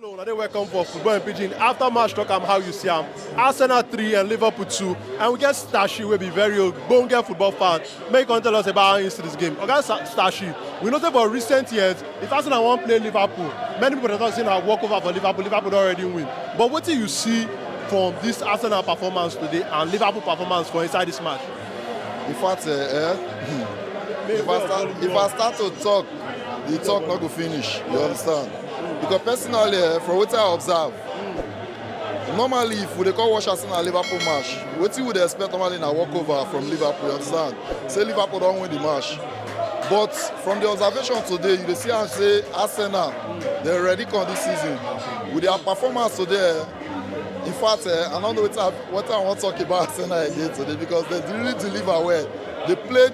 Hello, I dey welcome for Football and Pidgin. After match talk am how you see am. Arsenal 3 and Liverpool 2 and we get Stashi wey be very old bonge football fan. Make you come tell us about how you see this game. Oga Sa- Stashi, we know say for recent years, if Arsenal wan play Liverpool, many people dey talk say na walk over for Liverpool, Liverpool don already win. But wetin you see from this Arsenal performance today and Liverpool performance for inside this match? In fact, eh, eh, if, I start, if I start to talk, the talk no go finish you understand because personally eh, from wetin i observe normally if we dey come watch arsenal liverpool match wetin we dey expect normally na walkover from liverpool you understand say liverpool don win the match but from the observation today you dey see am say arsenal dey ready come this season with their performance today eh, in fact eh, i no know wetin i wetin i wan talk about arsenal again today because they really deliver well they played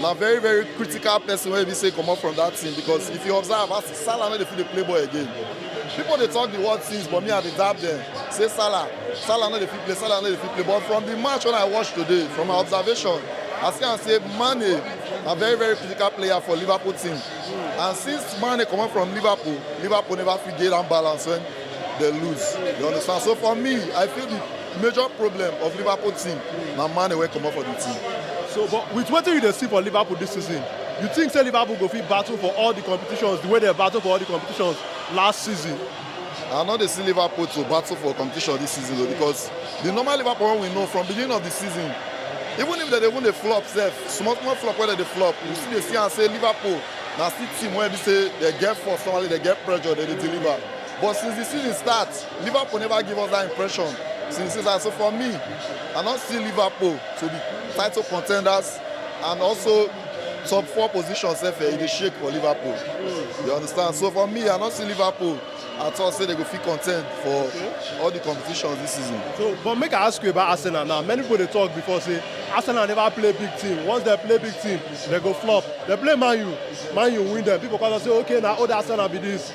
na very very critical person wey be say comot from that team because if you observe as salah no dey fit dey play ball again people dey talk the word things but me i dey dab them say salah salah no dey fit play salah no dey fit play but from the match wey i watch today from my observation i see am say mane na very very critical player for liverpool team and since mane comot from liverpool liverpool never fit get that balance when They lose. You understand? So for me, I feel the major problem of Liverpool team na Mane wey comot for the team. So, but with wetin you dey see for Liverpool this season, you think say Liverpool go fit battle for all the competitions the way they battle for all the competitions last season? I no dey see Liverpool to battle for competition this season o because the normal Liverpool wey we know from beginning of the season, even if they dey even dey flop sef, small small flop wey dem dey flop, you still dey see am say Liverpool na still team wey be say dem get force normally, dem get pressure, dem dey deliver. But since di season start, Liverpool neva give us dat impression since di season so for me, I no see Liverpool to be title contenders and also top four position sef e dey shake for Liverpool, you understand. So for me, I no see Liverpool at all say dem go fit contend for all di competitions dis season. So but make I ask you about Arsenal now, many pipo dey tok before say Arsenal neva play big team, once dem play big team dem go flop, dem play Man U, Man U win dem, pipo come tok say ok na old Arsenal be dis.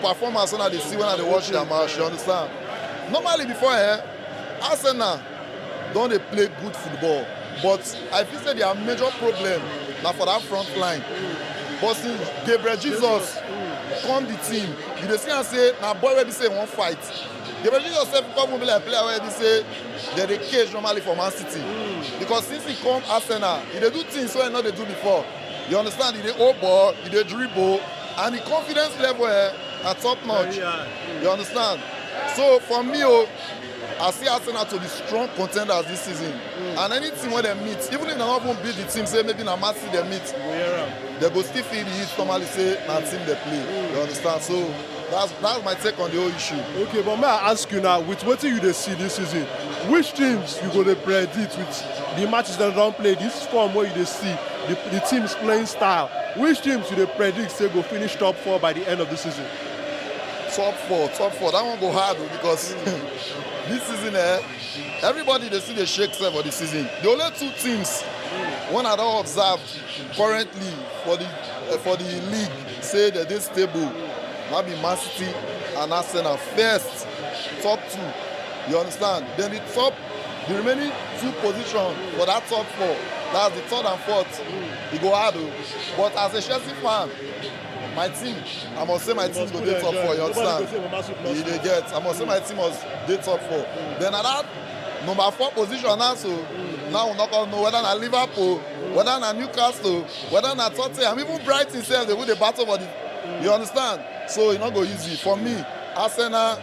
performance when I dey see when I dey watch their match, you understand? Normally before eh, Arsenal don dey play good football but I feel say their major problem na for that front line. But since Gabriel Jesus come the team, you dey see am say na boy wey be say he wan fight. Gabriel Jesus sef come be like player wey be say dem dey cage normally for Man City because since he come Arsenal, he dey do things wey he no dey do before. You understand? He dey hold ball, he dey dribble, and the confidence level eh, na top notch. Very high. You understand? So for me, oh, I see Arsenal to be strong contenders this season. And any team wey dem meet, even if dem no even beat the team, say maybe na Man City dem meet, We hear am. dem go still feel the heat normally say na team dem play. You understand? So That's that's my take on the whole issue. Okay, but may I ask you now, with what you dey see this season, which teams you go to predict with the matches that don't play, this form where you dey see, the, the team's playing style, which teams you dey predict say go finish top four by the end of the season? Top four, top four. That one go hard oh, because this season, eh, everybody they see the shake for the season. The only two teams, one I don't observe Currently for di for di league say dem dey stable na be Man City and Arsenal first top two you understand then the top the remaining two position for that top four that's the third and fourth e go hard o but as a Chelsea fan my team I must say my team go dey top four you understand you dey get I must say my team must dey top four then na that number four position now so now we no come know whether na Liverpool. whether na newcastle whether na tottenham even brighton sef dey go dey battle for the you understand so e no go easy for me arsenal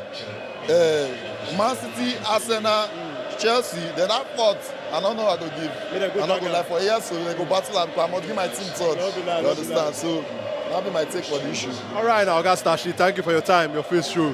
uh, man city arsenal chelsea then that fourth i no know i go give Make dem go i no go back lie for here so they go battle am but i must give my team third No be lie, you no be understand so that be my take for the issue. All right, now, Oga Stashi, thank you for your time. Your face show.